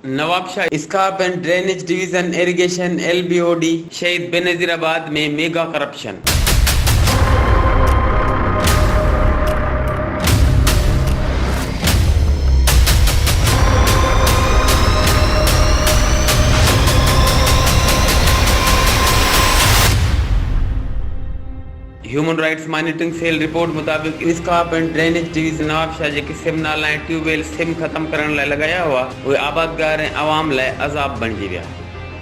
Nawabshah SCARP and drainage division irrigation, L B O D. Shaheed Benazirabad ۾ mega corruption. Human rights monitoring cell report مطابق SCARP and drainage division Nawabshah جيڪي سم نالا ۽ tube well سم ختم ڪرڻ لاء لڳايا هئا اهي آبادگار ۽ عوام لاء عذاب بڻجي ويا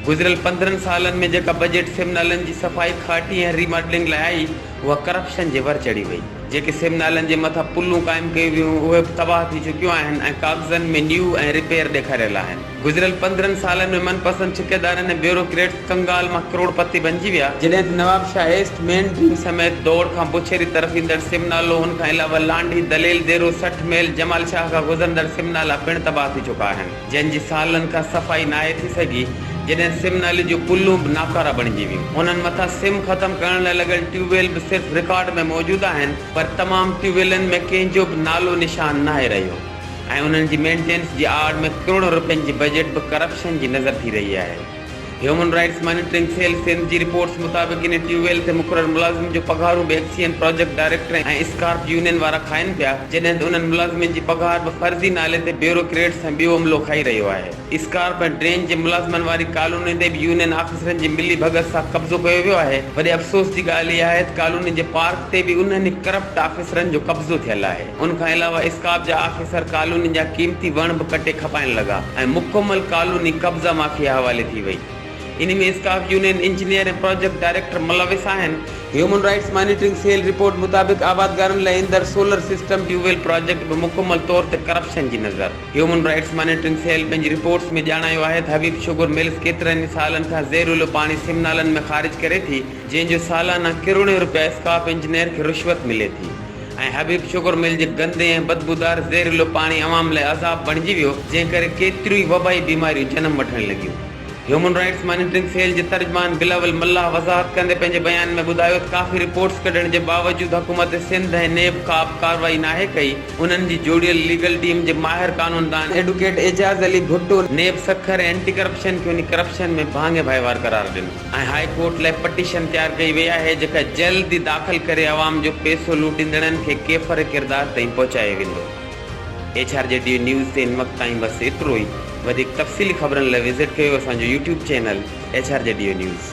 گذريل پندرهن سالن ۾ جيڪا بجيٽ سم نالن جي صفائي کاٽي ۽ ريماڊلنگ لاء آئي اها ڪرپشن جي ور چڙهي وئي جيڪي سم نالن جي مٿان پلون قائم ڪيون ويون هيون اهي به تباهه ٿي چڪيون آهن ۽ ڪاغذن ۾ نيو ۽ رپير ڏيکاريل آهن. گذريل پندرهن سالن ۾ من پسند ٺيڪيدارن ۽ بيوروڪريٽس ڪنگال مان ڪروڙ پتي بنجي ويا. جڏهن ته Nawabshah east main drain سميت دؤڙ کان بوڇيري طرف ايندڙ سم نالو ان کان علاوه لانڍي، دليل ديرو، سٺ ميل، جمال شاهه کان گذرندڙ سم نالا پڻ تباهه ٿي چڪا آهن. جن جي سالن کان صفائي ناهي ٿي سگهي. جڏهن سم نالي جون پلون به ناڪارا بڻجي ويون. انهن مٿان سم ختم ڪرڻ لاء لڳل ٽيوب ويل به صرف رڪارڊ ۾ موجود آهن پر تمام ٽيوب ويلن ۾ ڪنهن جو به نالو نشان ناهي رهيو. ۽ انهن جي مينٽينس جي آڙ ۾ ڪروڙن روپين جي بجيٽ به ڪرپشن جي نظر ٿي رهي آهي. Human rights monitoring cell Sindh جي رپورٽس مطابق انهي ٽيوب ويل تي مقرر ملازمن جون پگهارون به ايڪسيئن پراجيڪٽ ڊائريڪٽرن ۽ اسڪارپ يونين وارا کائن پيا جڏهن ته انهن ملازمن جي پگهار به فرضي نالي تي بيورو ڪريٽس ۽ ٻيو عملو کائي رهيو آهي. اسڪارپ ۽ ڊرين جي ملازمن واري ڪالوني تي به يونين آفيسرن جي ملي ڀڳت سان قبضو ڪيو ويو آهي، وڏي افسوس جي ڳالهه اها آهي ته ڪالوني جي پارڪ تي به انهن ئي ڪرپٽ آفيسرن جو قبضو ٿيل آهي، ان کان علاوه اسڪارپ جا آفيسر ڪالوني جا قيمتي وڻ به ڪٽي کپائڻ لڳا ۽ مڪمل ڪالوني قبضا مافيا حوالي ٿي وئي، ان ۾ SCARP union engineer ۽ project director ملوث آهن. Human rights monitoring cell report مطابق آبادگارن لاء ايندڙ solar system tube well project به مڪمل طور تي ڪرپشن جي نظر. هيومن رائٽس مانيٽرنگ سيل پنهنجي رپورٽس ۾ ڄاڻايو آهي ته حبيب شوگر ملز ڪيترن ئي سالن کان زهريلو پاڻي سم نالن ۾ خارج ڪري ٿي جنهن جو سالانه ڪروڙين روپيا اسڪاپ انجنيئر کي رشوت ملي ٿي ۽ حبيب شوگر مل جي گندي ۽ بدبودار زهريلو پاڻي عوام لاء عذاب بڻجي ويو جنهن ڪري ڪيتريون ئي وبائي بيماريون جنم وٺڻ لڳيون. هيومن رائٽس مانيٽرنگ سيل جي ترجمان بلاول ملاح وضاحت ڪندي پنهنجي بيان ۾ ٻڌايو ته ڪافي رپورٽس ڪڍڻ جي باوجود حڪومت سنڌ ۽ نيب ڪابه ڪارروائي ناهي ڪئي، انهن جي جوڙيل ليگل ٽيم جي ماهر قانوندان advocate Ijaz Ali Bhutto NAB Sukkur ۽ anti corruption کي انهي ڪرپشن ۾ ڀاڱي ڀائيوار قرار ڏنو ۽ هاء ڪورٽ لاء پٽيشن تيار ڪئي وئي آهي جيڪا جلد ئي داخل ڪري عوام جو پيسو لوٽيندڙن کي ڪيفر ڪردار تائين پهچايو ويندو. H R G D news تي هن وقت تائين بس ايترو ئي وڌيڪ تفصيلي خبرن لاء وزٽ ڪيو اسان جو YouTube channel H R G D news.